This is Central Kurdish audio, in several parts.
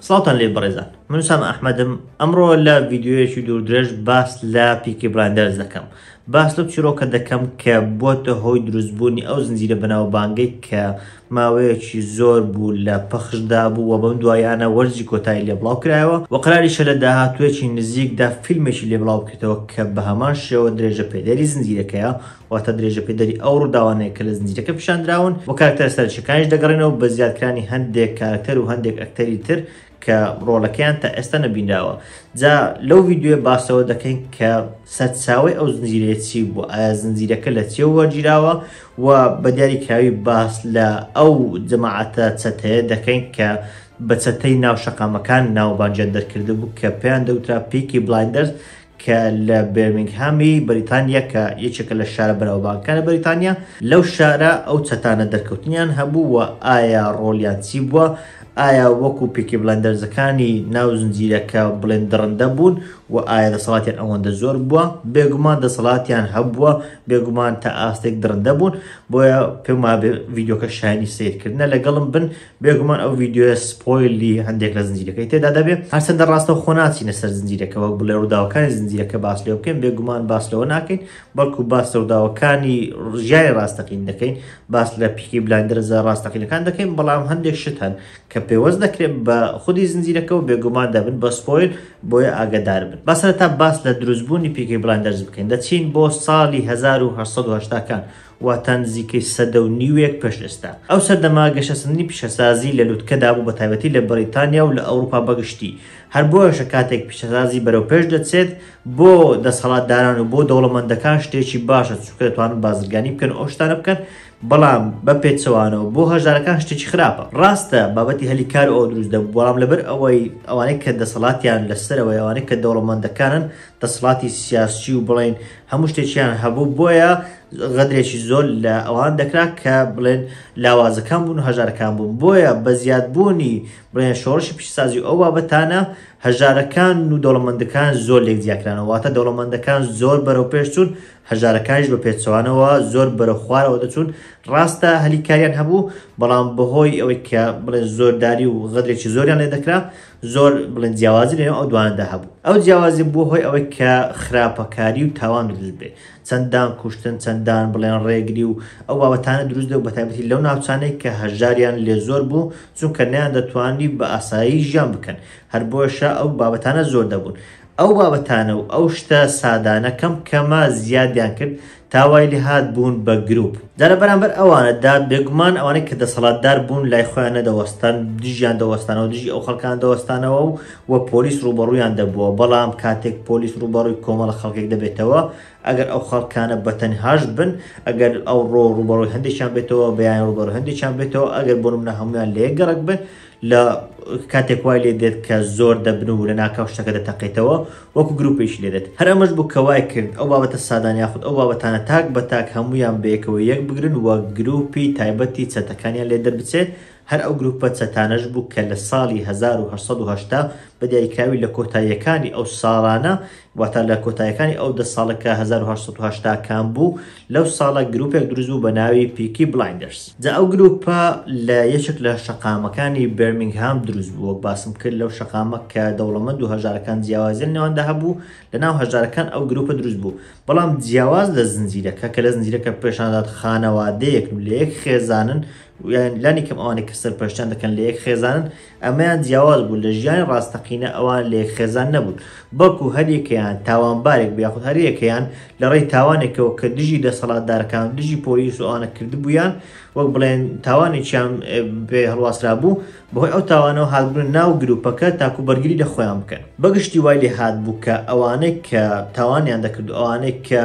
سڵاوتان لێ بەڕێزان من سام ئەحمەدم ئەمڕۆ لە ڤیددیوەیەکی دوور درێژ باس لە پیکی براندەرز دەکەم باس لەم چیرۆکە دەکەم کە بۆتە هۆی دروستبوونی ئەو زنجیرە بەناو بانگەی کە ماوەیەکی زۆر بوو لە پەخشدا بوو و بەم دواییانە وەرزی کۆتایی لێ بڵاو کرایەوە و قەراریشە لە داهاتوویەکی نزیکدا فیلمێکی لێ بڵاو بکرێتەوە کە بە هەمان شێوە درێژەپێدەری زنجیرەکەیە، واتە درێژەپێدەری ئەو ڕووداوانەیە کە لە زنجیرەکە پیشاندراون و کارەکتەرە سەرەکییەکانیش دەگەڕێنەوە بە زیادکرانی هەندێک کارەکتەر و هەندێک ئەکتەری تر کە ڕۆڵەکەیان تا ئێستا نەبینراوە جا لەو ڤیددیوێ باسەوە دەکەین کە سەرچاوی ئەو زنجیرەیە چی بوو ئایا زنجیرەکە لە چێ وەرگیراوە و بە دیاری کراوی باس لە ئەو جەماعەتە چەتەیە دەکەین کە بە چەتەی ناو شەقامەکان ناوبانجیان دەرکرد بوو کە پێیان دەوترا پیکی بلایندەرز کە لە بێرمینگهامی بەریتانیا کە یەکێکە لە شارە بەناوبانگەکانی بەریتانیا، لەو شارە ئەو چەتانە دەرکەوتنیان هەبوو و ئایا ڕۆڵیان چی بووە؟ ئایا وەکو پیکی بلایندەرزەکانی ناو زنجیرەکە بڵێن دڕندە بوون و ئایا دەسەڵاتیان ئەوەندە زۆر بووە؟ بێگومان دەسەڵاتیان هەبووە، بێگومان تا ئاستێک دڕندە بوون، بۆیە پێم وابێ ڤیدیۆکە شایەنی سەیرکردنە، لەگەڵم بن بێگومان ئەو ڤیدیۆیە سپۆیلی هەندێک لە زنجیرەکەی تێدا دەبێت هەرچەندە ڕاستە خۆ ناچینە سەر زنجیرەکە وەک بڵێ ڕووداوەکانی زنجیرەکە باس لێ بکەین بێگومان باس لەوە ناکەین بەڵکو باس لە ڕووداوەکانی ڕژیای ڕاستەقین دەکەین باس لە پیکی بلاندرزە ڕاستەقینەکان دەکەین بەڵام هەندێک شت هەن کە پێوەست دەکرێت بە خودی زنجیرەکەەوە بێگومان دەبن بە سپۆیل بۆیە ئاگدار بن بەسەر تا باس لە دروستبوونی پیکی بلاندرز بکەین دەچین بۆ ساڵی 1970کان واتە نزیکەی سەدە و نیوێک پێش ئێستا. ئەو سەردەمە گەشەسەندنی پیشەسازی لە لوتکەدا بوو بەتایبەتی لە بەریتانیا و لە ئەوروپا بەگشتی، هەر بۆیەشە کاتێک پیشەسازی بەرەوپێش دەچێت بۆ دەسەڵاتداران و بۆ دەوڵەمەندەکان شتێکی باشە چونکە دەتوانن بازرگانی بکەن و ئەو شتانە بکەن، بەڵام بە پێچەوانەوە بۆ هەژارەکان شتێکی خراپە. ڕاستە بابەتی هەلی کار و ئەوە دروست دەبوو، بەڵام لەبەر ئەوەی ئەوانەی کە دەسەڵاتیان لەسەرە و ئەوانەی کە دەوڵەمەندەکانن دەسڵاتی سیاسی و بڵێن هەموو شتێکیان هەبوو بۆیە غەدرێکی زۆر لە ئەوان دەکرا کە بڵێن لاوازەکان بوون و هەژارەکان بوون بۆیە بە زیادبوونی بڵێن شۆڕشی پیشسازی ئەو بابەتانە هەژارەکان و دەوڵەمەندەکان زۆر لێک دیاکرانەوەواتە دەوڵەمەندەکان زۆر بەرەو پێشچوون هەژارەکانیش بە پێچەوانەوە زۆر بەرە خوارەوە دەچوون ڕاستە هەلیکاریان هەبوو بەڵام بەهۆی ئەوەی کە بڵێن زۆرداری و غەدرێکی زۆریان لێ دەکرا زۆر بڵێن جیاوازی لەنێو ئەو دوانەدا هەبوو ئەو جیاوازی بوو هۆی ئەوەی کە خراپەکاری و تاوان دروست بێ چەندان کوشتن چەندان بڵێن ڕێگری و ئەو بابەتانە دروست دە بەتابەتی لەو ناوچانەی کە هەژاریان لێ زۆر بوو چونکە نیان دەتوانی بە ئاسایی ژیان بکەن هەر بۆشە ئەو بابەتانە زۆر دەبوون ئەو بابەتانە و ئەو شتە سادانە کەم کەمە زیادیان کرد تا وای لێ هات بوون بە گروپ. جا لە بەرامبەر ئەوانە دا بێگومان ئەوانەی کە دەسەڵاتدار بوون لای خۆیان نەدەوەستان دژیان دەوەستانەوە دژی ئەو خەڵکانە دەوەستانەوە و و پۆلیس ڕووبەڕوویان دەبووە بەڵام کاتێک پۆلیس ڕووبەڕووی کۆمەڵە خەڵکێک دەبێتەوە ئەگەر ئەو خەڵکانە بە تەنهاش بن ئەگەر ئەو ڕۆ ڕووبەڕووی هەندێکیان بێتەوە بەیان ڕووبەڕووی هەندێکیان بێتەوە ئەگەر بۆ نمونە هەموویان لە یەک گەڕەک بن لە کاتێک وای لێ دێت کە زۆر دەبن و لە ناکاو شتەکە دەتەقێتەوە وەکو گروپێکی لێ دێت هەر ئەمەش بوو کە وای کرد ئەو بابەتە سادان یاخود ئەو بابەتانە تاک بە تاک هەمویان بەیەکەوە یەک بگرن و گروپی تایبەتی چەتەکانیان لێ دەربچێت هەر ئەو گروپە چەتانەش بوو کە لە ساڵی 1970 بە دیاریکراوی لە کۆتاییەکانی ئەو ساڵانە واتە لە کۆتایەکانی ئەو دە ساڵە کە هەزار و هەشت سەد و هەشتا کان بوو لەو ساڵە گروپێک دروست بوو بە ناوی پیکی بلایندەرس جا ئەو گروپە لە یەکێک لە شەقامەکانی بێرمینگهام دروست بوو وەک باسم کرد لەو شەقامە کە دەوڵەمەند و هەژارەکان جیاوازیان نێواندا هەبوو لە ناو هەژارەکان ئەو گروپە دروست بوو بەڵام جیاواز لە زنجیرەکە کە لە زنجیرەکە پێشاندات خانەوادەیەکن لە یەک خێزانن یان لانی کەم ئەوانەی کە سەرپەرشتیان دەکەن لە یەک خێزانن ئەمەیان جیاواز بوو لە ژیانی ڕاستەقینە ئەوان لە یەک خێزان نەبوون بەڵکو هەر یەکەیان تاوانبارێک بوو یاخود هەر یەکەیان لە ڕێی تاوانێکەوە کە دژی دەسەڵاتدارەکان و دژی پۆلیس و ئەوانە کردبوویان وەک بڵێن تاوانێکیان پێ هەڵواسرابوو بەهۆی ئەو تاوانەوە هاتبوونە ناو گرووپەکە تاکو بەرگری لە خۆیان بکەن بەگشتی وای لێ هاتبوو کە ئەوانەی کە تاوانیان دەکرد و ئەوانەی کە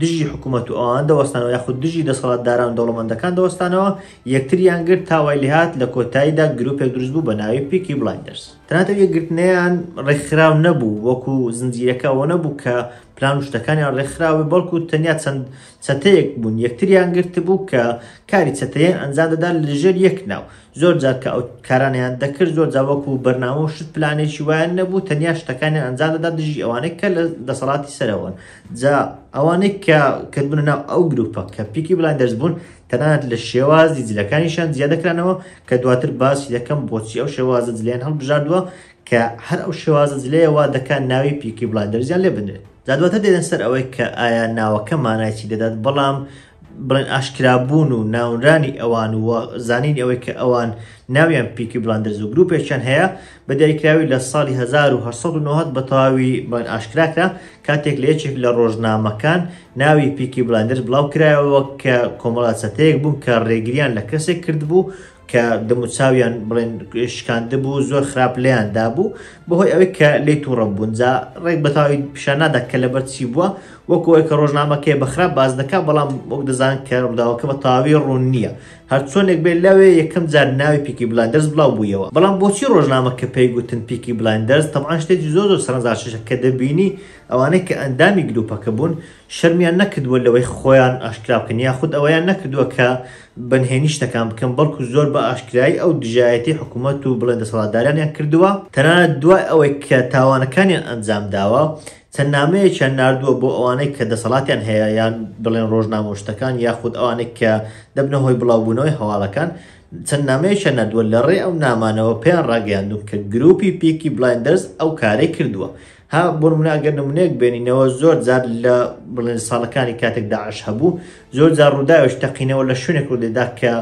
دژی حکومەت و ئەوان دەوەستانەوە یاخود دژی دەسەڵات داران و دەوڵەمەندەکان دەوەستانەوە یەکتریان گرت تا وای لێهات لە کۆتاییدا گروپێک دروست بوو بە ناوی پیکی بلایندەرس تەنانەت ئەو یەکگرتنەیان ڕێکخراو نەبوو وەکو زنجیرەکە ئەوە نەبوو کە پلان و شتەکانیان ڕێکخراوە بەڵکو تەنیا چەند چەتەیەک بوون یەکتریان گرتبوو کە کاری چەتەیان ئەنجام دەدان لەژێر یەک ناو زۆر جار کە ئەو کارانەیان دەکرد زۆر جار وەکو بەرنامە و شت پلانێکی وایان نەبوو تەنیا شتەکانیان ئەنجام دەدا دژی ئەوانەی کە لە دەسەڵاتی سەرەوەن جا ئەوانەی کە کردبوونە ناو ئەو گروپە کە پیکی بڵان دەرزبوون تەنانەت لە شێوازی جلەکانیشان زیادەکرانەوە کە دواتر باسی دەکەم بۆچی ئەو شێوازە جلیان هەڵبژاردووە کە هەر ئەو شێوازە جلەیە وا دەکات ناوی پیکی بڵان دەرزیان لێ بدرێت جا دواتر دێنە سەر ئەوەی کە ئایا ناوەکە مانای چی دەدات بەڵام بڵێن ئاشکرابوون و ناونرانی ئەوان و زانینی ئەوەی کە ئەوان ناویان پیکی بلاندرز و گروپێکیان هەیە بە دیاریکراوی لە ساڵی 1990 بە تەواوی بڵێن ئاشکراکرا کاتێک لە یەکێک لە ڕۆژنامەکان ناوی پیکی بلاندرز بڵاو کرایەوە کە کۆمەڵە چەتەیەک بوون کە ڕێگریان لە کەسێک کردبوو کە دەموچاویان بڵێن شکاند بوو زۆر خراپ لێیان دابوو بەهۆی ئەوەی کە لی تووڕە بوون جا ڕێک بەتاوی پیشان نادا کە لەبەر چی بووە وەکۆی کە ڕۆژنامەکەی بەخراپ باز دەکا بەڵام وەک دەزان کە ڕووداوەکە بە تاوی ڕوون نییە هەرچۆنێک بێت لەوێ یەکەم جار ناوی پیکی بلاندەرز بڵاو بوویەوە بەڵام بۆچی ڕۆژنامە کە پێی گوتن پیکی بلاندەرز تەمان شتێکی زۆر زۆر سەرنجاشەشە کە دەبینی ئەوانەی کە ئەندامی گروپەکە بوون شەرمیان نەکردووە لەوەی خۆیان ئاشکرا بکەن یاخود ئەوەیان نەکردووە کە بەنهێنی شتەکان بکەن، بەڵکو زۆر بە ئاشکرایی ئەو دژایەتی حکومەت و بڵێن دەسەڵاتدارانیان کردووە، تەنانەت دوای ئەوەی کە تاوانەکانیان ئەنجام داوە، چەند نامەیەکیان ناردووە بۆ ئەوانەی کە دەسەڵاتیان هەیە یان بڵێن ڕۆژنامە و شتەکان یاخود ئەوانەی کە دەبنە هۆی بڵاوبوونەوەی هەواڵەکان، چەند نامەیەکیان ناردووە، لە ڕێی ئەو نامانەوە پێیان ڕاگەیاندوون کە گروپی پیکی بلایندەرز ئەو کارەی کردووە. ها بۆ نمونە ئەگەر نمونەیەک بێنینەوە زۆر جار لە بڵێن ساڵەکانی کاتێک داعش هەبوو زۆر جار ڕووداوش تەقینەوە لە شوێنێک ڕوودەدا کە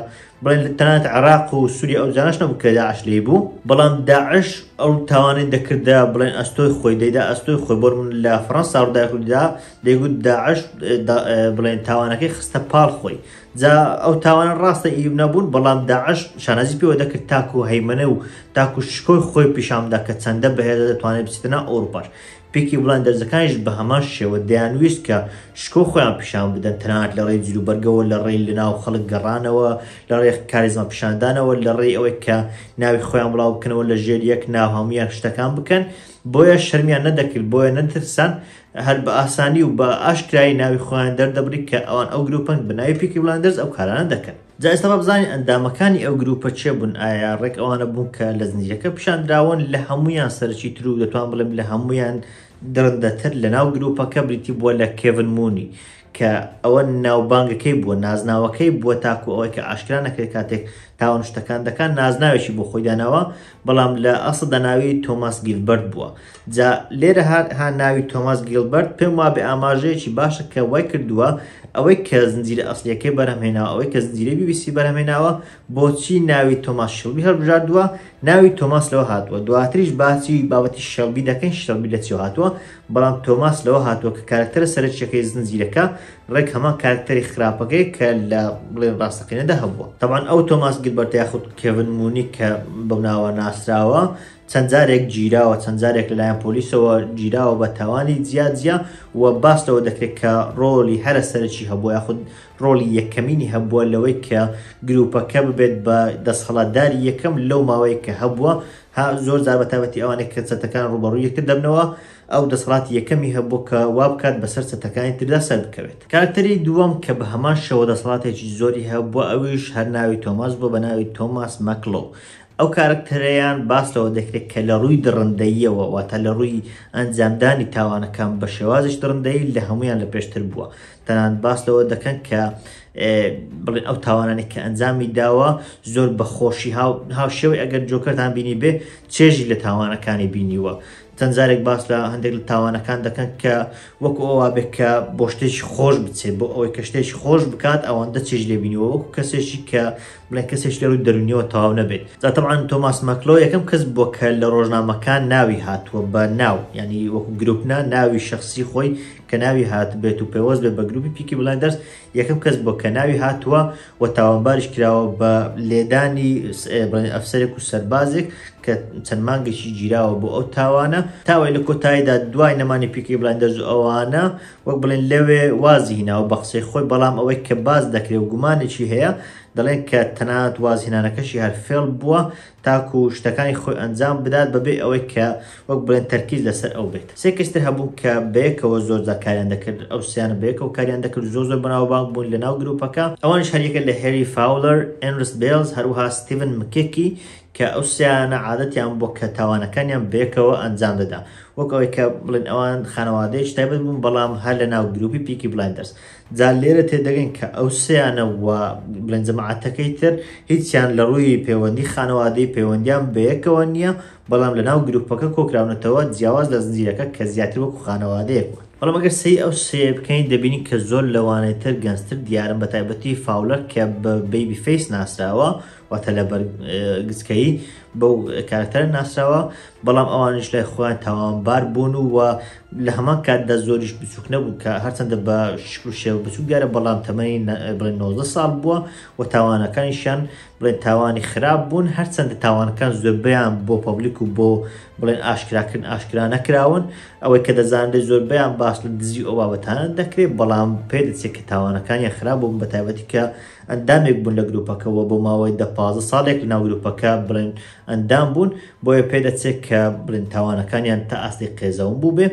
بڵێن لە تەنات عراق و سووری ئەو جانش نەبوو کە داعش لی بوو بەڵام داعش ئەو تاوانەی دەکردە بڵێن ئەستۆی خۆی دەیدا ئەستۆی خۆی بۆ من لە فڕەنسا ڕوودای ڕوودا دەیگوت داعش بڵێن تاوانەکەی خستە پاڵ خۆی جا ئەو تاوانە ڕاستە ئیب نەبوون بەڵام داعش شانازی پێوە دەکرد تاکو و هەیمەە و تاکو شکۆی خۆی پیشامدا کە چەندە بەهێزە دەتوانێت بچێتنا ئەوروپاش پێکی بڵند دەرزەکانیش بە هەمان شێوە دەیانویست کە شکۆ خۆیان پیشان بدەن تەنات لە ڕێی جلو بەرگەوە لە ڕێی لە ناو خەڵک گەڕانەوە لە ڕێ کارێزان پیشاندانەوە لە ڕێی ئەوەی کە ناوی خۆیان بڵاو بکەنەوە لە ژێر یەک ناوهامیان شتەکان بکەن بۆیە شەرمیان نەدەکرد بۆیە نەترسان هەر بە ئاسانی و بە ئاشکرایی ناوی خۆیان دەردەبری کە ئەوان ئەو گروپەن بە ناوی پیکی بلایندەرز ئەو کارانە دەکەن جا ئێستا با بزانین ئەندامەکانی ئەو گروپە چێ بوون ئایا ڕێک ئەوانە بوون کە لە زنجیرەکە پیشان دراون لە هەموویان سەرەکی تر و دەتوان بڵێم لە هەموویان دڕندەتر لە ناو گروپەکە بریتی بووە لە کێڤن مونی کە ئەوە ناوبانگەکەی بووە نازناوەکەی بووە تاکو ئەوەی کە ئاشکرا نەکرێت کاتێک تاوان شتەکان دەکات نازناوێکی بۆ خۆی داناوە بەڵام لە ئەسڵ دەناوی تۆماس گیلبەرت بووە جا لێرە هەر ها ناوی تۆماس گیلبەرت پێم وا بە ئاماژەیەکی باشە کە وای کردووە ئەوەی کە زنجیرە ئەسلەکەی بەرهمێناوە ئەوەی کە زنجیرە بیبیسی بەرهمێناوە بۆچی ناوی تۆماس شڵبی هەڵبژاردووە ناوی تۆماس لەوە هاتووە دواتریش باسی بابەتی شەڵبی دەکەین شەڵبی لە چی هاتووە بەڵام تۆماس لەوە هاتووە کە کارەکتەرە سەرەکیەکەی زنجیرەکە ڕێک هەمان کارەکتەری خراپەکەی کە لە بڵێن ڕاستەقینەدا هەبووە تەمان ئەو تۆماس گلبەرتە یاخود کێڤن مونی کە بەم ناوە ناسراوە چەند جارێک گیراوە چەند جارێک لەلایەن پۆلیسەوە گیراوە بە تاوانی جیاجیا و باس لەوە دەکرێت کە ڕۆلی هەرە سەرەکی هەبووە یاخود ڕۆلی یەکەمینی هەبووە لەوەی کە گروپەکە ببێت بە دەسهڵاتداری یەکەم لەو ماوەیە کە هەبووە ها زۆر جار بە تایبەتی ئەوانێک کە چەتەکان ڕوبەڕوو یەکتر دەبنەوە ئەو دەسەڵاتی یەکەمی هەبوو کە وا بکات بەسەر چەتەکانی تردا سەر بکەوێت کارکتەری دووەم کە بە هەمان شێوە دەسەڵاتێکی زۆری هەبووە ئەویش هەر ناوی تۆماس بووە بە ناوی تۆماس مەکڵۆو ئەو کارکتەرەیان باس لەوە دەکرێت کە لە ڕووی دڕندەییەوە واتە لە ڕووی ئەنجامدانی تاوانەکان بە شێوازش دڕندەیی لە هەمویان لە پێشتر بووە تەنانەت باس لەوە دەکەن کە بڵێن ئەو تاوانانی کە ئەنجامی داوە زۆر بە خۆشی هاوشێوەی ئەگەر جۆکەتان بینی بێ چێژی لە تاوانەکانی بینیوە چەند جارێک باس لە هەندێک لە تاوانەکان دەکەن کە وەکو ئەووا بێت کە بۆ شتێکی خۆش بچێت بۆ ئەوەی کە شتێکی خۆش بکات ئەوەندە چێژ لێبینیوە وەکو کەسێکی کە بڵێن کەسێک لە ڕووی دەرونیەوە تەواو نەبێت زاتەبان تۆماس مەکلۆ یەکەم کەس بۆ کە لە ڕۆژنامەکان ناوی هاتووە بە ناو ینی وەکو گرروپنا ناوی شخصی خۆی کە ناوی هاتبێت و پەیوەست بێت بە گروپی پیکی بلایندەرز یەکەم کەس بووە کە ناوی هاتووە و تاوانباریش کراوە بە لێدانی ئەفسەرێک و سەربازێک کە چەند مانگێکی گیراوە بۆ ئەو تاوانە تاوای لە کۆتاییدا دوای نەمانی پیکی بلایندەرز و ئەوانە وەک بڵێن لەوێ وازی هیناوە بە قسەی خۆی بەڵام ئەوەی کە باز دەکرێت و گومانێکی هەیە دەڵێن کە تەنانەت وازهێنانەکەشی هەر فێڵ بووە تاکو شتەکانی خۆی ئەنجام بدات بەبێ ئەوەی کە وەک بڵێن تەرکیز لەسەر ئەو بێت سێ کەس تر هەبوون کە بەیەکەوە زۆر جار کاریان دەکرد ئەو سێیانە بەیەکەوە کاریان دەکرد زۆر زۆر بەناوبانگ بوون لەناو گروپەکە ئەوانیش هەریەکە لە هێری فاولەر ئێنرس بێلز هەروەها ستیڤن مکێکی کە ئەو سێیانە عادەتیان بووە کە تاوانەکانیان بەیەکەوە ئەنجام دەدا وەک ئەوەی کە بڵێن ئەوان خانەوادەیەکی تایبەت بوون بەڵام هەر لەناو گروپی پیکی بلایندەرز جا لێرە تێدەگەین کە ئەو سێیانە و بڵێن جەماعەتەکەی تر هیچیان لە ڕووی پەیوەندی خانەوادەی پەیوەندیان بەیەکەوە نییە بەڵام لە ناو گروپەکە کۆکراونەتەوە جیاواز لە زنجیرەکە کە زیاتر وەکو خانەوادەیەک بوون بەڵام ئەگەر سەی ئەو سێ بکەین دەبینین کە زۆر لەوانەی تر گەنجتر دیارن بە تایبەتی فاولەر کە بە بەیبی فەیس ناسراوە واتە لە بەر گچکەی بەو کارکتەرە ناسراوە بەڵام ئەوانیش لای خۆیان تاوانبار بوون و وە لە هەمان کاتدا زۆریش بچووک نەبوو کە هەرچەندە بە شکل شێوە بچووک دیارە بەڵام تەمەنی بڵێن 90 ساڵ بووە و تاوانەکانیشیان بڵێن تاوانی خراپ بوون هەرچەندە تاوانەکان زۆربیان بۆ پەبلیک و بۆ بڵێن ئاشکراکردن ئاشکرا نەکراون ئەوەی کە دەزانێت زۆربیان باس لە دزی ئەو بابەتانە دەکرێت بەڵام پێ دەچێت کە تاوانەکانی خراپ بوون بە تایبەتی کە ئەندامێک بوون لە گروپەکەەوە بۆ ماوەی دە پازە ساڵێک لە ناو گروپەکە بڵێن ئەندام بوون بۆیە پێدەچێت کە بڵێن تاوانەکانیان تا ئاستی قێزەون بووبێ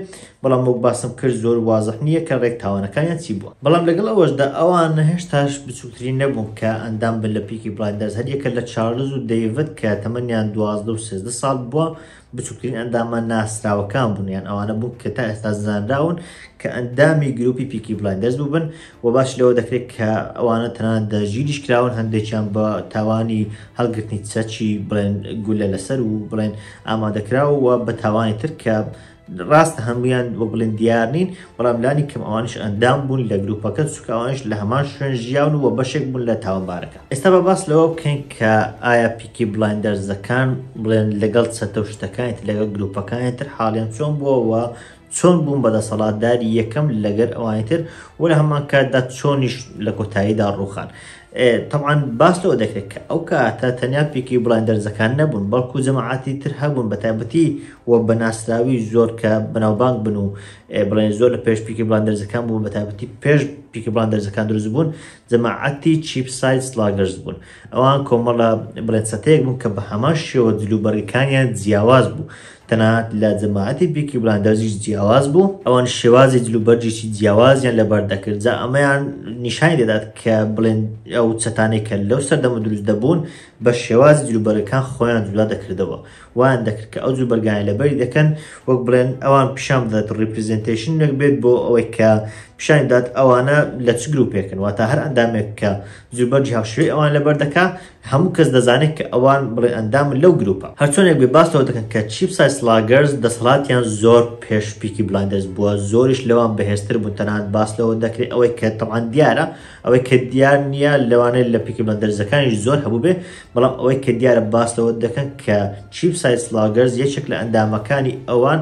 بەڵام وەک باسم کرد زۆر وازح نییە کە ڕێک تاوانەکانیان چی بووە بەڵام لەگەڵ ئەوەشدا ئەوان هێشتاش بچووکترین نەبوون کە ئەندام بن لە پیکی بڵایندەرز هەر یەکە لە چارلز و دەیڤد کە تەمەنیان دوازدە و سێزدە ساڵ بووە بچووکترین ئەندامە ناسراوەکان بوون یان ئەوانە بوون کە تا ئێستا زانراون کە ئەندامی گروپی پیکی بڵایندەرز بووبن وە باسی لەوە دەکرێت کە ئەوانە تەنانەت دەژیریش کراون هەندێکیان بە تاوانی هەڵگرتنی چەچی بڵێن گولە لەسەر و بڵێن ئامادەکراوە بە تاوانی تر کە ڕاستە هەمویان وە بڵێن دیار نین بەڵام لانی کەم ئەوانش ئەندام بوون لە گروپەکە سوکاوانش لە هەمان شوێن ژیاون و بەشێک بوون لە تاوانبارەکە ئێستا بە باس لەوە بکەین کە ئایا پیکی بڵندەرزەکان بڵێن لەگەڵ چەتە و شتەکانیت لەگەڵ گروپەکانی تر حاڵیان چۆن بووەوە چۆن بوون بەدەسەڵاتداری یەکەم لەگەر ئەوانی تر و لە هەمان کاتدا چۆنیش لە کۆتاییدا ڕووخان تەعاان باس لەوە دەکرێت کە ئەو کاتە تەنیا پێکی بڵند دەرزەکان نەبوون بەڵکو جەماعاتی تر هەبوون بە تایبەتی و بە ناسراوی زۆر کە بەناوبانگ بن و بڵێن زۆر لە پێش پیکی بڵند دەرزەکان بوون بە تایبەتی پێش پیکی بڵند دەرزەکان دروست بوون جەماعەتی چیپ ساید سلاگەرز بوون. ئەوان کۆمەڵە بڵێن چەتەیەک بوون کە بە هەمان شێوە جل و بەرگەکانیان جیاواز بوو. تەنانەت لە جەماعەتی پیکی بلاندەرزیش جیاواز بوو. ئەوان شێوازی جل و بەرگێکی جیاوازیان لەبەر دەکرد. جا ئەمەیان نیشانی دەدات کە بڵێن ئەو چەتانەی کە لەو سەردەمە دروست دەبوون بە شێوازی جل و بەرگەکان خۆیان جودا دەکردەوە وایان دەکرد کە ئەو جور بەرگانە لەبەری دەکەن وەک بڵێن ئەوان پیشان بدات ڕیپریزنتەیشنێک بێت بۆ ئەوەی کە پیشانی بدات ئەوانە لە چ گروپێکن واتە هەر ئەندامێک کە جوربەرجی هاوشێوەی ئەوان لەبەر دەکا هەموو کەس دەزانێت کە ئەوان بڵێ ئەندام لەو گروپە هەرچۆنێک بێ باس لەوە دەکەن کە چیپ سای سلاگەرز دەسەڵاتیان زۆر پێش پیکی بلایندەرز بووە زۆریش لەوان بەهێزتر بوون تەنانەت باس لەوە دەکرێت ئەوەی کە تەمان دیارە ئەوەی کە دیار نییە لەوانەیە لە پیکی بەندەرزەکانیش زۆر هەبوو بێ بەڵام ئەوەی کە دیارە باس لەوە دەکەن کە چیپ سایس لاگەرز یەکێک لە ئەندامەکانی ئەوان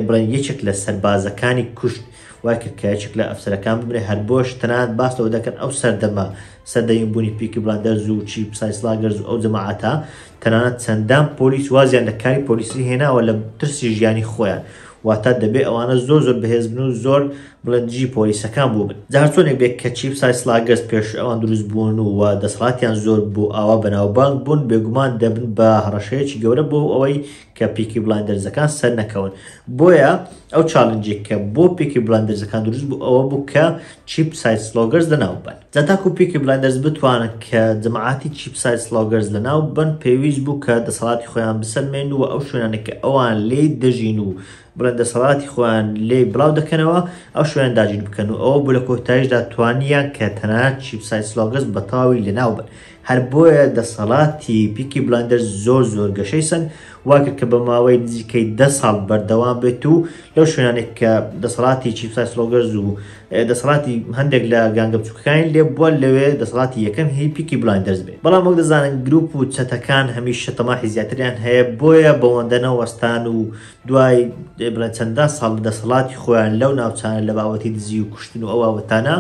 بڵێن یەکێک لە سەربازەکانی کوشت وای کرد کە یەکێک لە ئەفسەرەکان ببرێ هەر بۆش تەنات باس لەوە دەکەن ئەو سەردەمە سەردەین بوونی پیکی بلاندەرز و چیپ سایس لاگەرز ئەو جەماعاتە تەنانەت چەندان پۆلیس وازیان لە کاری پۆلیسی هێناوە لە ترسی ژیانی خۆیان و واتا دەبێ ئەوانە زۆر زۆر بەهێز بن و زۆر بڵێن دژی پۆلیسەکان بووبن جا هەرچۆنێک بێ کە چیپ سای سلاگەرز پێش ئەوان دروست بوون و وە دەسەڵاتیان زۆر بوو ئاوا بەناوبانگ بوون بێگومان دەبن بە هەڕەشەیەکی گەورە بۆ ئەوەی کە پیکی بڵایندەرزەکان سەر نەکەون بۆیە ئەو چالنجێک کە بۆ پیکی بڵایندەرزەکان دروست بوو ئەوە بوو کە چیپ سای سلۆگەرز لەناو ببەن. جا تاکو پیکی بلایندەرز بتوانن کە جەماعەتی چیپ سایز سڵاوگەرز لەناو ببەن پێویست بوو کە دەسەڵاتی خۆیان بسەلمێنن و ئەو شوێنانەی کە ئەوان لێی دەژین و بڵێن دەسەڵاتی خۆیان لێی بڵاو دەکەنەوە ئەو شوێنە داگیر بکەن و ئەوە بوو لە کۆتایشدا توانیان کە تەنانەت چیپ سایز سڵاوگەرز بەتەواوی لەناو ببەن هەر بۆیە دەسەڵاتی پیکی بلایندەرز زۆر زۆر گەشەی سەند واکرد کە بە ماوەی نزیکەی دە ساڵ بەردەوام بێت و لەو شوێنانێک کە دەسەڵاتی چیپسای سلۆگەرز و دەسەڵاتی هەندێک لە گانگە بچووکەکانی لێ بووە لەوێ دەسەڵاتی یەکەم هی پیکی بلایندەرز بێت بەڵام وەک دەزانن گروپ و چەتەکان هەمیشە تەماحی زیاتریان هەیە بۆیە بەوەندە نەوەستان و دوای بڵێ چەندان ساڵ دەسەڵاتی خۆیان لەو ناوچانە لە باوەتی دزی و کوشتن و ئەو باوەتانە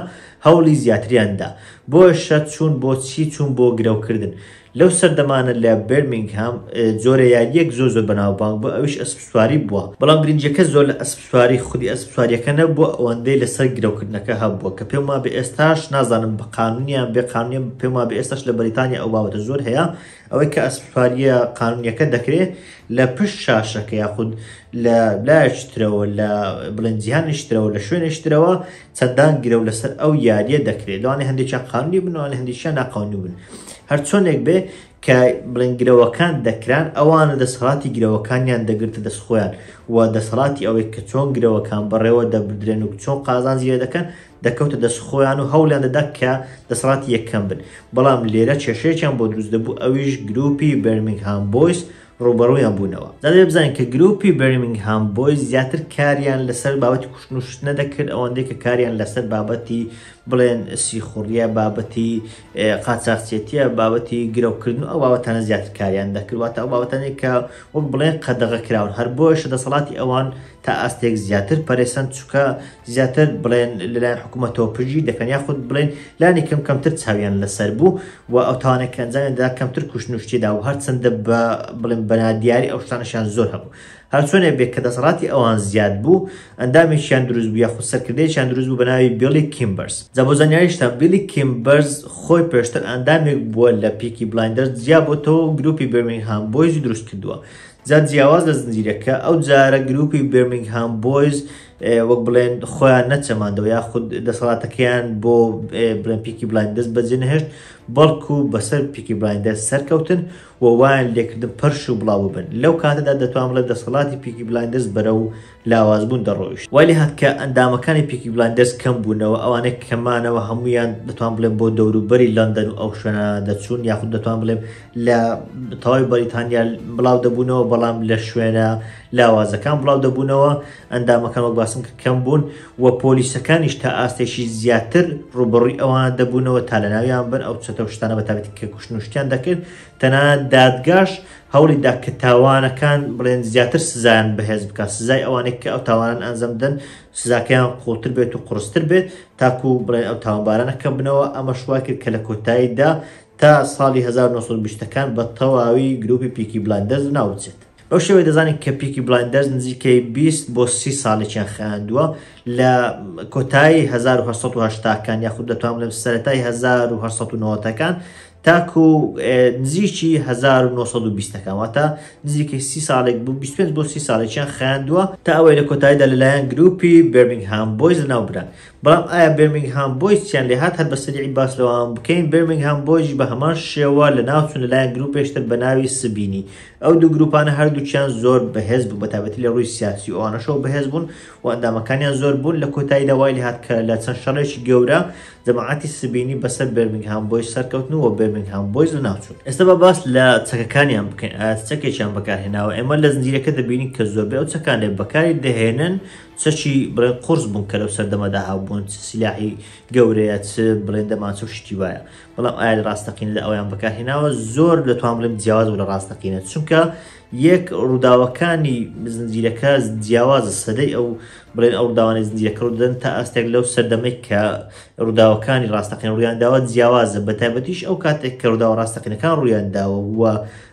هەوڵی زیاتریان دا. بۆیە شەت چوون بۆ چی چوون بۆ گرەوکردن. لەو سەردەمانە لە بێرمینگهام جۆرە یارییەک زۆر زۆر بەناوبانگ بوو ئەویش ئەسپسواری بووە، بەڵام گرنگیەکە زۆر لە ئەسپسواری خودی ئەسپسواریەکە نەبووە ئەوەندەی لەسەر گرەوکردنەکە هەبووە کە پێم وابێ ئێستاش نازانم بە قانون یان بێ قانونە پێم وابێ ئێستاش لە بەریتانیا ئەو بابەتە زۆر هەیە ئەوەی کە ئەسپسواریە قانونیەکە دەکرێ لە پشت شاشەکە یاخود لە لایەکی ترەوە لە بڵێن جیهانیش ترەوە لە شوێنێش ترەوە سەدان گرەو لەسەر ئەو یاریە دەکرێت لەوانێ هەندێکیان قانونی بن لەوانێ هەندێکیان ناقانونی بن هەر چۆنێک بێ کە بڵێن گرەوەکان دەکران ئەوانە دەسەڵاتی گرەوەکانیان دەگرتە دەست خۆیان و دەسەڵاتی ئەوەی کە چۆن گرەوەکان بەڕێوە دەبدرێن و چۆن قازان زیێ دەکەن دەکەوتە دەست خۆیان و هەولیان دەدا کە دەسەڵاتی یەکەم بن بەڵام لێرە کێشەیەکیان بۆ دروست دەبوو ئەویش گروپی بەرمنگهام بۆیس ڕووبەڕوویان بوونەوە. جا دەبێت بزانین کە گرووپی بێرمینگهام بۆیز زیاتر کاریان لەسەر بابەتی کوشتن و شتنە دەکرد ئەوەندەی کە کاریان لەسەر بابەتی بڵێن سیخوڕیە بابەتی قاچاخچێتیە بابەتی گرەوکردن و ئەو بابەتانە زیاتر کاریان دەکرد واتە ئەو بابەتانێک کە وەک بڵێن قەدەغە کراون هەر بۆیشە دەسەڵاتی ئەوان تا ئاستێک زیاتر پەرێسەن چکە زیاتر بڵێن لەلایەن حکوومەتەوە پژی دەکەن یاخود بڵێن لانی کەم کەمتر چاویان لەسەر بوو و ئەو تاوانێک ئەنجامیدا کەمتر کوشتنوشتیدا و هەرچەندە بە بڵێن بەنادیاری ئەو شتانشیان زۆر هەبوو هەرچۆنێ بێت کە دەسەڵاتی ئەوان زیاد بوو ئەندامێکیان دروست بوو یاخود سەرکردێکیان دروست بوو بە ناوی بیڵی کیمبەرز جا بۆ زانیاریشتان بیلی کیمبەرز خۆی پێشتر ئەندامێک بووە لە پیکی بلایندەر جیا بۆتەوە گروپی برمنگهام بۆیزی دروست کردووە جا جیاواز لە زنجیرەکە ئەو جارە گروپی بێرمینگهام بۆیز وەک بڵێن خۆیان نەچەماندەوە یا خود دەسەڵاتەکەیان بۆ بڵێن پیکی بلایندەست بەجێ نەهێشت بەڵکو بەسەر پیکی بلایندەر سەرکەوتن و وایان لێکردن پەرش و بڵاو بن لەو کاتەدا دەتوان بڵێ دەسەڵاتی پیکی بلایندەست بەرە و لاوازبوون دەڕۆیشت وای لێهات کە ئەندامەکانی پیکی بلایندەرز کەم بوونەوە ئەوانەی کە مانەوە هەموویان دەتوان بڵێم بۆ دەوروبەری لەندەن و ئەو شوێنانە دەچوون یاخود دەتوان بڵێم لە تەواوی بەریتانیا بڵاو دەبوونەوە بەڵام لە شوێنە لاوازەکان بڵاو دەبوونەوە ئەندامەکان وەک باسم کە کەم بوون و پۆلیسەکانیش تا ئاستێکی زیاتر ڕوبڕووی ئەوان دەبوونەوە تا لە ناویان بن ئەو چەتە شتانە بەتابێت کە کوشتنوشتیان دەکرد تەنانەت دادگاش هەوڵی دا کە تاوانەکان بڵێن زیاتر سزایان بەهێز بکات، سزای ئەوانەی کە ئەو تاوانان ئەنجام دەدەن سزاکەیان قوڵتر بێت و قورستر بێت تاکو بڵێن ئەو تاوانبارانە کەم بنەوە، ئەمەش وای کرد کە لە کۆتاییدا تا ساڵی هەزار و نۆ سەد و بیست ەکان بە تەواوی گرووپی پیکی بلایندەرز لەناو بچێت. بەو شێوەیە دەزانین کە پیکی بلایندەرز نزیکەی بیست بۆ سی ساڵێکیان خایاندووە لە کۆتایی هەزار و هەشت سەد و هەشتا کان یاخود دەتوانم بڵێم سەرەتای هەزار و هەشت سەد و نەوەت ەکان تاکو نزیکی 1920 ەکان واتە نزیکەی سی ساڵێک بوو 25 بۆ سی ساڵێکیان خیاندووە تا ئەوەی لە کۆتاییدا لەلایەن گروپی بێرمینگهام بۆیز لەناوبران بەڵام ئایا بێرمینگهام بۆیز چیان لێهات هەر بە سەریعی باس لەوان بکەین بێرمینگهام بۆیز بە هەمان شێوە لەناوچوون لەلایەن گروپێشتر بە ناوی سبینی ئەو دوو گروپانە هەردووکیان زۆر بەهێز بوو بە تابەتی لە ڕووی سیاسی و ئەوانەشەوە بەهێز بوون و ئەندامەکانیان زۆر بوون لە کۆتاییدا وای لێهات کە لە چەند شەڕێکی گەورە جەماعەتی سبینی بەسەر بێرمینگهام بۆیز سەرکەوتن و وە بێرمینگهام بۆیز و ناوچوون ئێستا با باس لە چەکەکانیان بکەین ئایا چ چەکێکیان بەکارهێناوە ئێمە لە زنجیرەکە دەبینین کە زۆربەی ئەو چەکانێ بەکاری دەهێنن چەکی بڵێ قورس بوون کە لەو سەردەمەدا هابوون چ سیلاحی گەورەیە چ بڵێن دەمانچە و شتی وایە بەڵام ئایا لە ڕاستەقین لە ئەویان بەکارهێناوە زۆر دەتوان بڵێم جیاواز و لە ڕاستەقینە چونکە یەک، ڕووداوەکانی زنجیرەکە جیاوازە، سەدەی ئەو بڵێن ئەو ڕووداوانەی زنجیرەکە ڕوودەدەن تا ئاستێک لەو سەردەمەی کە ڕووداوەکانی ڕاستەقین ڕوویانداوە جیاوازە، بەتایبەتیش ئەو کاتێک کە ڕووداوە ڕاستەقینەکان ڕوویانداوە و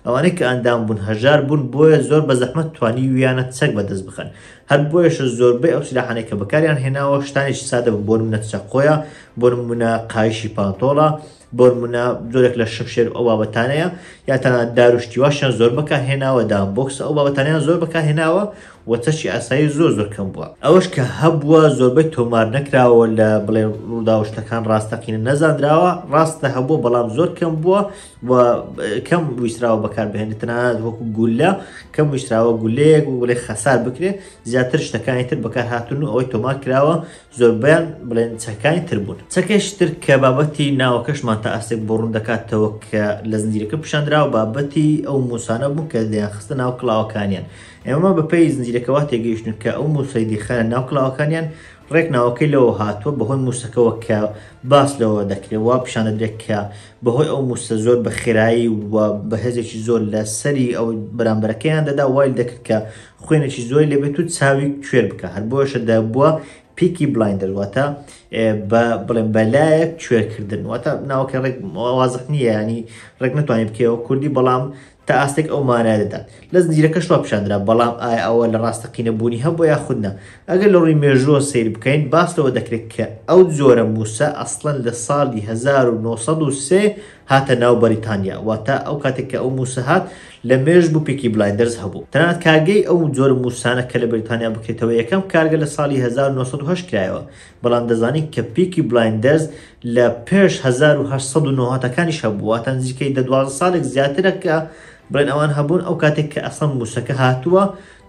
ئەوانەی کە ئەندام بوون هەژار بوون بۆیە زۆر بە زەحمەت توانیویانە چەک بەدەست بخەن، هەر بۆیەشە زۆربەی ئەو سیلاحانەی کە بەکاریان هێناوە شتانێکی سادە بوون بۆ نمونە چەقۆیە، بۆ نمونە قایشی پانتۆڵە، بۆنمونە زۆرێک لە شمشێر ئەو بابەتانەیە یا تەنات داروشتیواشیان زۆر بەکە هێناوە دام بۆکس ئەو بابەتانیان زۆر بەکە هێناوە و چەشی ئاسایی زۆر زۆر کەم بووە ئەوەش کە هەبووە زۆربەی تۆمار نەکراوە لە بڵێ ڕووداوشتەکان ڕاستەقینە نەزانراوە ڕاستە هەبوو بەڵام زۆر کەم بووە و کەم ویستراوە بەکار بهێنێت تەنانەت وەکو گولە کەم ویستراوە گولەیەک و بڵێ خەسار بکرێت زیاتر شتەکانی تر بەکار هاتون و ئەوەی تۆمار کراوە زۆربەیان بڵێن چەکانی تر بوون. چەکێکی تر کە بابەتی ناوەکەشمان تا ئاستێک بۆ ڕوون دەکاتەوە کە لە زنجیرەکە پیشاندراوە، بابەتی ئەو مووسانە بوون کە دەیانخستە ناو کڵاوەکانیان. ئێمە بەپێی زنجیرەکە وا تێگەیشتوون کە ئەو مووسەی دەیخایەنە ناو کڵاوەکانیان، ڕێک ناوەکەی لەوە هاتووە بەهۆی مووسەکەوە کە باس لەوە دەکرێت وا پیشان دەدرێت کە بەهۆی ئەو مووسە زۆر بە خێرایی و بە هێزێکی زۆر لە سەری ئەو بەرامبەرەکەیان دەدا وای دەکرد کە خوێنێکی زۆری لەبێت و چاوی کوێر بکە هەر بۆشە دەبووە پیکی بلاین دەرواتە بە بڵێن بەلایەک کوێرکردن واتە ناوکە ڕێک وازح نییە ینی ڕێک نتوانین بکەوە کوردی بەڵام تا ئاستێک ئەو مانای دەدات لە زنجیرەکە شوە پیشاندرا بەڵام ئایا ئەوە لە ڕاستەقینە بوونی هەبوو یا خودنا ئەگەر لە ڕووی مێژووە سیر بکەین باس لەوە دەکرێت کە ئەو جۆرە موسە ئەسڵەن لە ساڵی 1970 هاتە ناو بەریتانیا واتە ئەو کاتێک کە ئەو موسە هات لە مێژ بوو پیکی بلایندەرز هەبوو تەنانەت کارگەی ئەو جۆرە موسانە کە لە بەریتانیا بکرێتەوە یەکەم کارگە لە ساڵی 1970 کرایەوە بەڵام دەزانین کە پیکی بلایندەرز لە پێش 1990 کانیش هەبووە تەنزیکەی دە دوازە ساڵێک زیاترە کە بڵێن ئەوان هەبوون ئەو کاتێک کە ئەسڵەن موسەکە هاتووە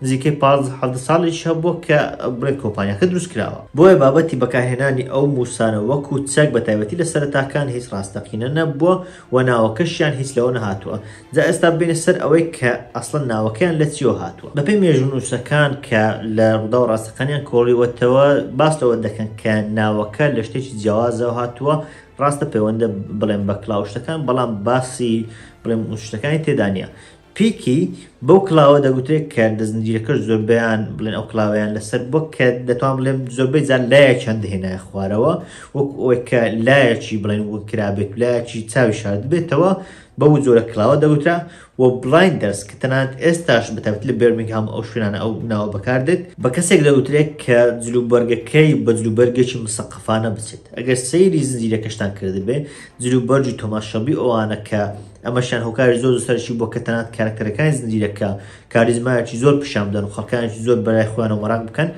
نزیکەی پازدە حەڤدە ساڵێکی هەبووە کە بڵێن کۆمپانیاکە دروستکراوە، بۆیە بابەتی بەکارهێنانی ئەو مووسانە وەکو چەک بە تایبەتی لە سەرەتاکان هیچ ڕاستەقینە نەبووە و ناوەکەشیان هیچ لەوە نەهاتووە، جا ئێستا بێینە سەر ئەوەی کە ئەسڵەن ناوەکەیان لە چیەوە هاتووە. بەپێی مێژوونووسەکان کە لە ڕووداوە ڕاستەقانیان کۆڵیوەتەوە باس لەوە دەکەن کە ناوەکە لە شتێکی جیاوازەوە هاتووە، ڕاستە پەیوەندە بڵێن بە کڵاو شتەکان بەڵام باسی بڵێن شتەکانی تێدا نییە، پیکی بەو کڵاوە دەگوترێت کە لە زنجیرەکەش زۆربەیان بڵێن ئەو کڵاوەیان لەسەر بووە کە دەتوان بڵێم زۆربەی جار لایەکیان دەهێنایە خوارەوە وەکو ئەوەی کە لایەکی بڵێن وکرابێت و لایەکی چاوی شاردبێتەوە بەو جۆرە کڵاوە دەگوترا و بلایندەرز کە تەنانەت ئێستاش بە تایبەتی لە بێرمینگهام ئەو شوێنانە ئەو ناوە بەکاردێت بە کەسێک دەگوترێت کە جلوبەرگەکەی بە جلوبەرگێکی مسەقەفانە بچێت ئەگەر سەیری زنجیرەکەشتان کردبێ جلوبەرگی تۆماس شەڵبی ئەوانە کە ئەمەشیان هۆکاری زۆر زۆرسەرشی بووە کە تەنانەت کارەکتەرەکانی زنجیرە کە کاریزمایەکی زۆر پیشان بدەن و خەڵکانێکی زۆر بەلای خۆیانەوە مەراق بکەن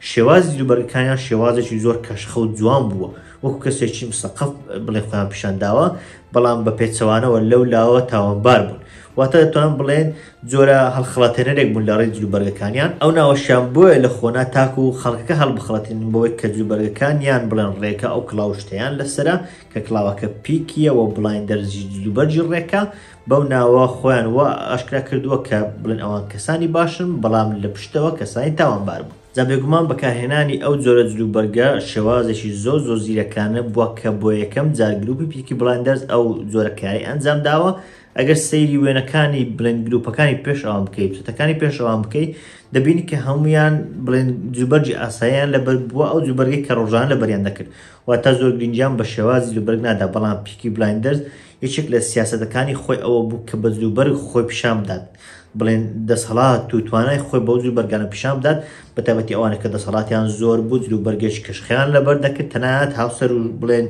شێواز جلوبەرگەکانیان شێوازێکی زۆر کەشخە و جوان بووە وەکو کەسێکی مسەقف بڵێ خۆیان پیشان داوە بەڵام بە پێچەوانەوە لەو لاوە تاوانبار بوون واتە دەتوان بڵێن جۆرە هەڵخڵاتێنەرێک بوون لە ڕێی جلوبەرگەکانیان ئەو ناوەشیان بۆیە لە خۆنا تاکو و خەڵکەکە هەڵبخڵەتین بۆی کە جلوبەرگەکانیان بڵێن ڕێکە ئەو کڵاوشتیان لەسرە کە کڵاوەکە پیک یە وە بڵایندەر ی جلوبەرگی ڕێکە بەو ناوە خۆیان وا ئاشکرا کردووە کە بڵێن ئەوان کەسانی باشن بەڵام لە پشتەوە کەسانی تاوانبار بوون. جا بێگومان بەکارهێنانی ئەو جۆرە جلوبەرگە شێوازێکی زۆر زۆر زیرەکانە بووە کە بۆ یەکەم جار گروپی پیکی بڵایندەرز ئەو جۆرە کارەی ئەنجام داوە ئەگەر سەیری وێنەکانی بڵێن گروپەکانی پێش ئەوان بکەی چەتەکانی پێش ئەوان بکەی دەبینی کە هەموویان بڵێن جلوبەرگی ئاساییان لەبەر بووە ئەو جلوبەرگەی کە ڕۆژانە لەبەریان دەکرد واتە زۆر گرنگیان بە شێوازی جلوبەرگ نادا، بەڵام پیکی بلایندەرز یەکێک لە سیاسەتەکانی خۆی ئەوە بوو کە بە جلوبەرگ خۆی پیشان بدات، بڵێن دەسەڵات و توانای خۆی بەو جلوبەرگانە پیشان بدات، بە تایبەتی ئەوانەی کە دەسەڵاتیان زۆر بوو جلوبەرگێکی کەشخەیان لەبەر دەکرد، تەنانەت هاوسەر و بڵێن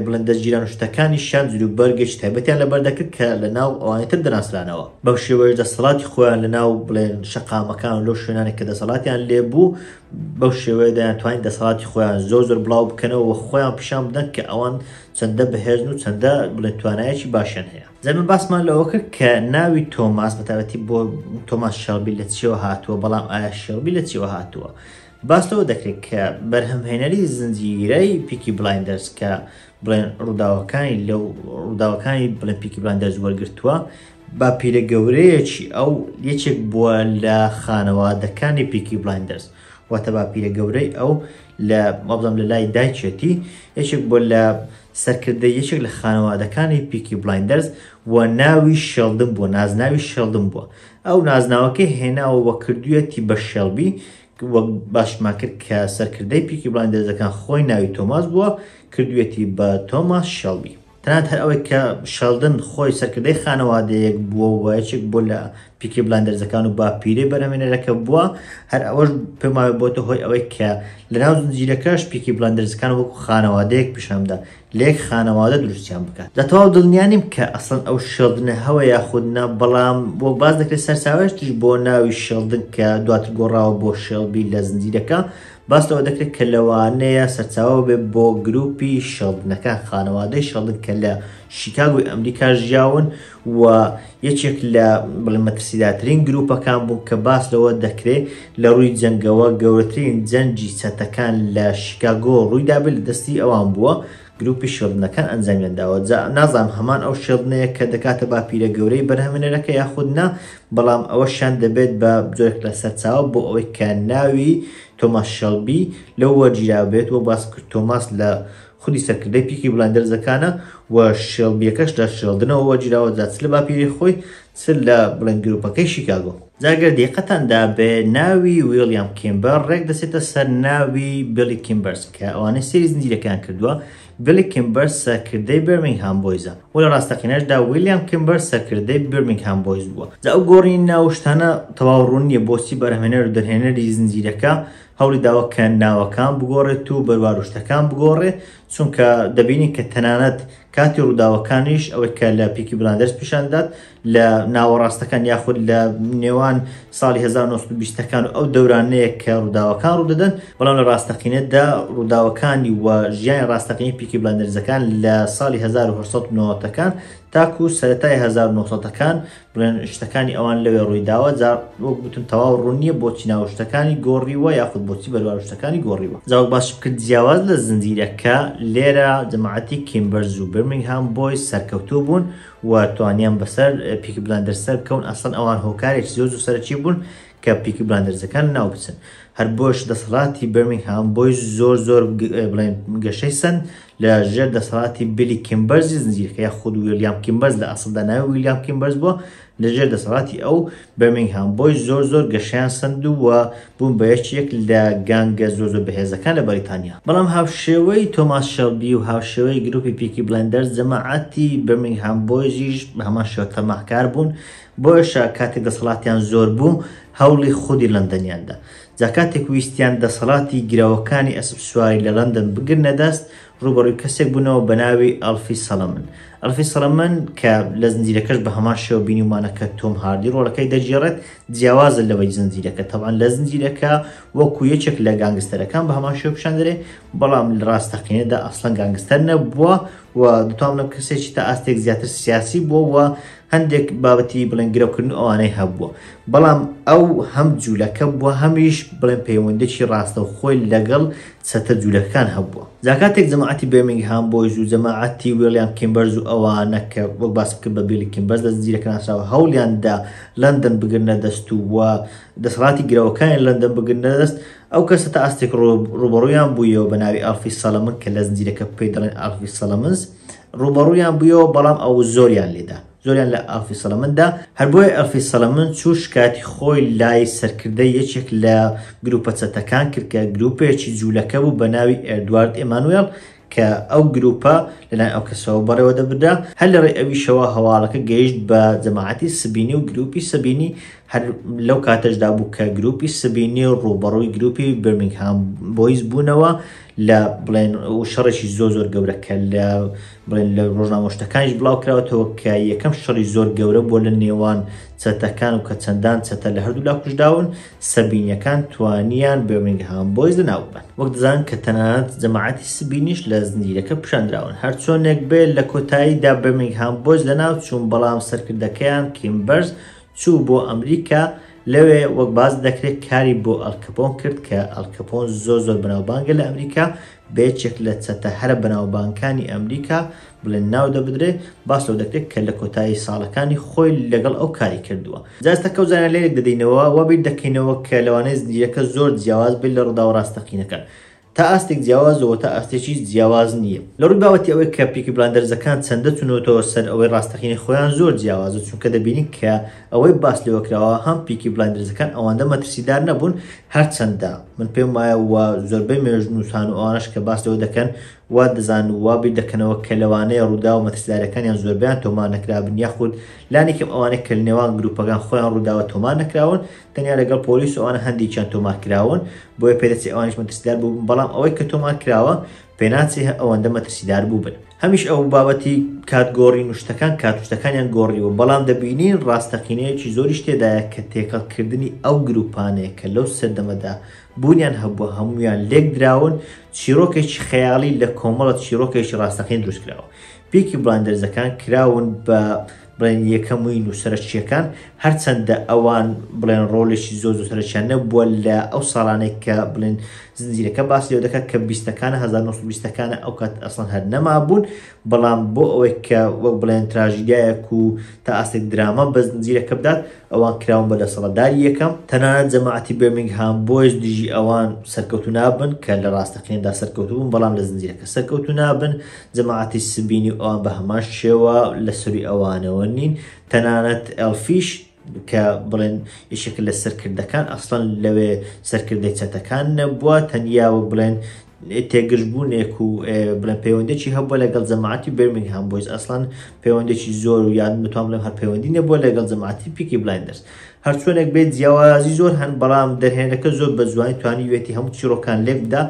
بڵێن دەزگیران و شتەکانیشیان جلوبەرگێکی تایبەتیان لەبەر دەکرد کە لە ناو ئەوانی تر دەناسرانەوە، بەم شێوەیەش دەسەڵاتی خۆیان لە ناو بڵێن شەقامەکان و لەو شوێنانەی کە دەسەڵاتیان لێ بوو بەو شێوەیە دەیانتوانی دەسەڵاتی خۆیان زۆر زۆر بڵاو بکەنەوە و خۆیان پیشان بدەن کە ئەوان چەندە بەهێزن و چەندە بڵێن توانایەکی باشیان هەیە زەمە باسمان لەوە کرد کە ناوی تۆماس بەتابەتی بۆ تۆماس شێڵبی لە چیەوە هاتووە بەڵام ئایا شێڵبی لە چیەوە هاتووە باس لەوە دەکرێت کە بەرهەمهێنەری زنجیرەی پیکی بلایندەرز کە بڵێن ڕووداوەکانی لەو ڕووداوەکانی بڵێ پیکی بلایندەرز وەرگتووە باپیرە گەورەیەکی ئەو یەکێک بووە لە خانەوادەکانی پیکی بلایندەرز واتە باپیرە گەورەی ئەو لە مەبزەم لە لای دایکێتی یەکێک بۆ لە سەرکردە یەکێک لە خانەوادەکانی پیکی بلایندەرز و ناوی شێڵدن بووە نازناوی شێڵدن بووە ئەو نازناوەکەی هێناوە وە کردویەتی بە شێڵبی وەک باشمان کرد کە سەرکردەی پیکی بلایندەرزەکان خۆی ناوی تۆماس بووە کردویەتی بە تۆماس شێڵبی تەنانەت هەر ئەوەی کە شێڵدن خۆی سەرکردەی خانەوادەیەک بووە و یەکێک بۆ لە پیکی بلاندەرزەکان و باپیرەی بەرهەمێنەرەکە بووە هەر ئەوەش پێماوە بۆتە هۆی ئەوەی کە لەناو زنجیرەکەش پیکی بلاندەرزەکان وەکو خانەوادەیەک پیشانبدا لە یەک خانەوادە دروستیان بکات لە تەواو دڵنیا نیم کە ئەسڵەن ئەو شێڵدنە هەوە یاخود نا بەڵام وەک باس دەکرێت سەرچاوەیەکتریش بۆ ناوی شێڵدن کە دواتر گۆڕاوە بۆ شێڵبی لە زنجیرەکە باس لەوە دەکرێت کە لەوانەیە سەرچاوە ببێت بۆ گروپی شێڵدنەکان، خانەوادەی شێڵدن کە لە شیکاگۆی ئەمریکا ژیاون و یەکێک لە بڵێ مەترسیداترین گروپەکان بوو کە باس لەوە دەکرێت لە ڕووی جەنگەوە گەورەترین جەنگی چەتەکان لە شیکاگۆ ڕوویدابێت لە دەستی ئەوان بووە، گروپی شێڵدنەکان ئەنجامیان داوە، جا نازانم هەمان ئەو شێڵدنەیە کە دەکاتە باپیرە گەورەی بەرهەمێنەرەکە یاخود نا، بەڵام ئەوەشیان دەبێت بە جۆرێک لە سەرچاوە بۆ ئەوەی کە ناوی، تۆماس شێڵبی، لەو وەرگیراو بێت، وەک باسم کرد تۆماس لە خودی سەرکردەی پیکی بڵایندەرزەکانە و شێڵبییەکەش لە شێڵدنەوە وەرگیراوە، جا چ لە باپیرەی خۆی، چ لە بڵێن گروپەکەی شیکاگۆ. جا گەر دیقەتان دابێ ناوی ویڵیام کیمبەر ڕێک دەچێتە سەر ناوی بیڵی کیمبەرس کە ئەوانەی سەیری زنجیرەکەیان کردووە بیڵی کیمبەرس سەرکردەی بێرمینگهام بۆیزە و لە ڕاستەقینەشدا ویڵیام کیمبەر سەرکردەی بیرمینگهام بۆیز بووە جا ئەو گۆڕینی ناو و شتانە تەواو ڕوون نییە بۆچی بەرهەمێنەر و دەرهێنەری زنجیرەکە هەوڵی داوە کە ناوەکان بگۆڕێت و بەروار و شتەکان بگۆڕێ چونکە دەبینین کە تەنانەت کاتی ڕووداوەکانیش ئەوەی کە لە پیکی بلاندرس پیشان دات لە ناوەڕاستەکان یاخود لە نێوان ساڵی 1920ەکان و ئەو دەورانەیە کە ڕووداوەکان ڕوودەدەن بەڵام لە ڕاستەقینەتدا ڕووداوەکانی و ژیانی ڕاستەقینی پیکی بلاندرزەکان لە ساڵی 1990ەکان تاکو سەتای 1990ەکان بڵێن شتەکانی ئەوان لەوێ ڕوویداوە جا وەک بتون تەواو ڕوون نییە بۆچی ناو شتەکانی گۆڕیوە یاخود بۆچی بەروار شتەکانی گۆڕیوە جاوەک باش بکرد جیاواز لە زنجیرەکە لێرە جەماعەتی کیمبەرز و برمنگهام بۆی سەرکەوتوو بوون و توانیان بەسەر پیک بلاندەر سەر بکەون ئەسڵەن ئەوان هۆکارێکی زۆر زۆر سەرەکی بوون کە پیکی بلاندەرزەکان ناو بچن هەر بۆش دەسەڵاتی بەرمینگهام بۆی زۆر زۆر بڵێن گەشەی سند لە ژێر دەسەڵاتی بیلی کیمبەرزی زنجیرکە یا خود ویلیام کیمبەرز لە ئەسڵدا ناوی ویلیام کیمبەرز بووە لە ژێر دەسەڵاتی ئەو بەرمینگهام بۆی زۆر زۆر گەشیان سند و بوون بە یەکێک لە گانگە زۆر زۆر بەهێزەکان لە بەریتانیا بەڵام هاوشێوەی تۆماس شەڵبی و هاوشێوەی گروپی پیکی بلندەرز جەماعەتی بەرمینگهام بۆیزیش بە هەمان شێوە تەماحکار بوون بۆیەشە کاتێک دەسەڵاتیان زۆر بوو هەوڵی خودی لەندەنیان دا. جا کاتێک ویستیان دەسەڵاتی گرەوەکانی ئەسپسواری لە لەندەن بگرنە دەست، ڕووبەڕووی کەسێک بوونەوە بە ناوی ئەڵفی سەڵەمن. ئەڵفی سەڵەمن، کە لە زنجیرەکەش بە هەمان شێوە بینیومانە کە تۆم هاردی ڕۆڵەکەی دەگێڕێت، جیاوازە لەوەی زنجیرەکە. تەبعەن لە زنجیرەکە وەکوو یەکێک لە گانگستەرەکان بە هەمان شێوە پیشان دەرێ، بەڵام لە ڕاستەقینەدا ئەسڵەن گانگستەر نەبووە و دەتوانم بڵێم کەسێکی تا ئاستێک زیاتر سیاسی بووە و هەندێک بابەتی بڵێن گرەوکردن و ئەوانەی هەبووە، بەڵام ئەو هەم جوولەکە بووە هەمیش بڵێن پەیوەندێکی ڕاستەوخۆی لەگەڵ چەتە جوولەکەکان هەبووە. جا کاتێک جەماعەتی بێرمینگهام بۆیز و جەماعەتی ویڵیام کیمبەرز و ئەوانە کە وەک باسم کرد بە بیڵی کیمبەرز لە زنجیرەکە ناسراوە هەوڵیان دا لەندەن بگرنە دەست و و دەسەڵاتی گرەوەکانی لەندەن بگرنە دەست، ئەو کەسە تا ئاستێک ڕووبەڕوویان بوویەوە بە ناوی ئاڵفی سەڵەمن کە لە زنجیرەکە پێی دەڵێن ئاڵفی سەڵەمنز. ڕوبەڕویان بویەوە بەڵام ئەو زۆریان لێدا زۆریان لە ئەلفی سەلمندا هەربۆی ئەلفی سەلمن چوو شکاتی خۆی لای سەرکردە یەکێک لە گروپە چەتەکان کرد کە گروپێکی جوولەکە بوو بە ناوی ئێردوارد ئێمانوێڵ کە ئەو گروپە لەلای ئەو کەسەوە بەڕێوە دەبدا هەر لە ڕێ ئەویشەوە هەواڵەکە گەیشت بە جەماعەتی سبینی و گروپی سبینی هەر لەو کاتەشدا بوو کە گروپی سبینی و ڕووبەڕووی گروپی برمنگهام بۆیز بوونەوە لە بڵێن و شەڕێکی زۆر زۆر گەورە کە لە بڵێن لە ڕۆژنامە شتەکانیش بڵاو کراوەتەوە کە یەکەم شەڕی زۆر گەورە بۆ لە نێوان چەتەکان و کە چەندان چەتە لە هەردوو لا کوشداون سەبینیەکان توانیان بێمنگهام بۆیز لە ناوبن وەک دەزان کە تەنانەت جەماعەتی سبینیش لە زنجیرەکە پیشاندراون هەرچۆنێک بێ لە کۆتاییدا بەمنگهام بۆیز لە ناو چوون بەڵام سەرکردەکەیان کیمبەرز چوو بۆ ئەمریکا لە لەوێ وەک باس دەکرێت کاری بۆ ئەلکەپۆن کرد کە ئەلکەپۆن زۆر زۆر بەناوبانگە لە ئەمریکا بەیەکێک لە چەتە هەرە بەناوبانکانی ئەمریکا بڵێن ناو دەبدرێت باس لەو دەکرێت کە لە کۆتایی ساڵەکانی خۆی لەگەڵ ئەو کاری کردووە جاستە کەوزانە لێک دەدەینەوە وەبیر دەکەینەوە کە لەوانەیە زنجیرەکە زۆر جیاواز بێت لە ڕووداوە ڕاستەقینەکان تا ئاستێک جیاوازە و تا ئاستێکیش جیاواز نییە. لە ڕووی بابەتی ئەوەی کە پیکی بلایندەرزەکان چەندە چونەوتەوە سەر ئەوەی ڕاستەقینەی خۆیان زۆر جیاوازە چونکە دەبینین کە ئەوەی باس لێوە کراوە هەم پیکی بلایندەرزەکان ئەوەندە مەترسیدار نەبوون هەرچەندە من پێم وایە و زۆربەی مێژوونووسان و ئەوانەش کە باس لەوە دەکەن وا دەزان و وا بیر دەکەنەوە کە لەوانەیە ڕووداوە مەترسیدارەکانیان زۆربەیان تۆمار نەکرابن یاخود لانی کەم ئەوانەی کە لەنێوان گرووپەکان خۆیان ڕووداوە تۆمار نەکراون تەنیا لەگەڵ پۆلیس و ئەوانە هەندێکیان تۆمار کراون بۆیە پێدەچێ ئەوانیش مەترسیدار بووبن بەڵام ئەوەی کە تۆمار کراوە پێناچێ هە ئەوەندە مەترسیدار بووبن هەمیش ئەو بابەتی کات گۆڕی نوشتەکان کاتوشتەکانیان گۆڕیوە بەڵام دەبینین ڕاستەقینەیەکی زۆریش تێدایە کە تێکەڵکردنی ئەو گروپانەیە کە لەو سەردەمەدا بوونیان هەبووە هەمویان لێک دراون چیرۆکێکی خەیاڵی لە کۆمەڵە چیرۆکێکی ڕاستەقین دروستکراوە پیکی بڵایندەرزەکان کراون بە بڵێن یەکەموین و سەرەکییەکان هەرچەندە ئەوان بڵێن ڕۆلێکی زۆر زۆر سەرچیان نەبووە لە ئەو ساڵانێک کە بڵێن زنجیرەکە باس لێ دەکات کە بیستەکانە 1920ەکانە ئەو کات ئەسڵەن هەر نەما بوون بەڵام بۆ ئەوەی کە وەک بڵێن تراژیدایەک و تا ئاستێک دراما بە زنجیرەکە بدات ئەوان کراون بە دەسەڵداری یەکەم تەنانەت جەماعەتی بێمنگهام بۆیش دژی ئەوان سەرکەوتو نابن کە لە ڕاستەقیندا سەرکەوتبوون بەڵام لە زنجیرەکە سەرکەوتو نابن جەماعەتی سبینی ئەوان بە هەمان شێوە لە سوری ئەوانەوە نین تەنانەت ئەلفیش کە بڵێن یشێک لە سەرکردەکان ئەسڵەن لەوێ سەرکردەی چەتەکان نەبووە تەنیا وەک بڵێن تێگرژبوونێک و بڵێن پەیوەندێکی هەبووە لەگەڵ جەماعتی برمنگ هەم بۆیز ئەسڵان پەیوەندێکی زۆر و یان متوان بڵێم هەر پەیوەندی نەبووە لەگەڵ جەماعتی پیکی بلایندرس هەرچۆنێک بێت جیاوازی زۆر هەن بەڵام دەرهێنەکە زۆر بە جوانی توانیوێتی هەموو چیرۆکان لێک بدا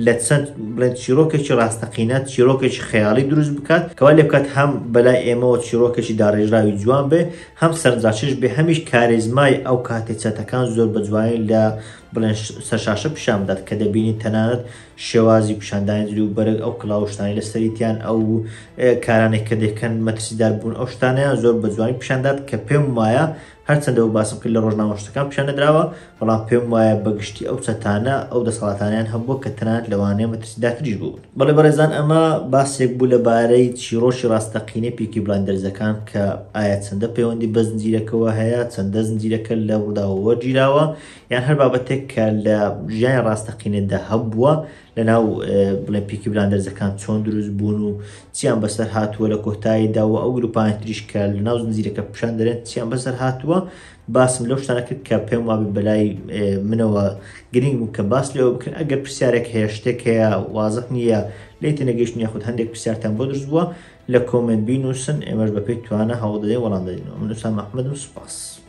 لە چەند بڵێن چیرۆکێکی ڕاستەقینە چیرۆکێکی خەیاڵی دروست بکات کەوا لێ بکات هەم بەلای ئێمەوە چیرۆکێکی داڕێژراوی جوان بێ هەم سەرنجڕاکێش بێ هەمیش کارێزمای ئەو کاتێ چەتەکان زۆر بە جوانی لە بڵێن سەرشاشە پیشان بدات کە دەبینی تەنانەت شێوازی پیشاندانی دری و بەرگ ئەو کلااوشتانی لە سەریتیان ئەو کارانێک کە دەکەن مەترسیدار بوون ئەو شتانیان زۆر بە جوانی پیشاندات کە پێم وایە هەرچەندە وەک باسم کرد لە ڕۆژنامە نووسەکان پیشان نەدراوە، بەڵام پێم وایە بە گشتی ئەو چەتانە ئەو دەسەڵاتانەیان هەبووە کە تەنانەت لەوانەیە مەترسیدارتریش بووبن. بەڵێ بەڕێزان ئەمە باسێک بوو لە بارەی چیڕۆکی ڕاستەقینەی پیکی بلایندەرزەکان کە ئایا چەندە پەیوەندی بە زنجیرەکەوە هەیە، چەندە زنجیرەکە لە ڕووداوە وەرگیراوە، یان هەر بابەتێک کە لە ژیانی ڕاستەقینەدا هەبووە لەناو بڵێن پیکی بلاندەرزەکان چۆن دروست بوون و چیان بەسەر هاتووە لە کۆتاییدا و ئەو گروپانە تریش کە لە ناو زنجیرەکە پیشان دەرێن چیان بەسەر هاتووە باسم لەو شتانە کرد کە پێم وابی بەلای منەوە گرنگ بوو کە باس لەوە بکەن ئەگەر پرسیارێک هەیە شتێک هەیە وازح نییە لی تێنەگەیشتن یاخود هەندێک پرسیارتان بۆ دروست بووە لە کۆمنت بینووسن ئێمەش بەپێی توانە هەوڵ دەدەین وەڵام دەدەینەوە من ئوسام ئەحمەدم سوپاس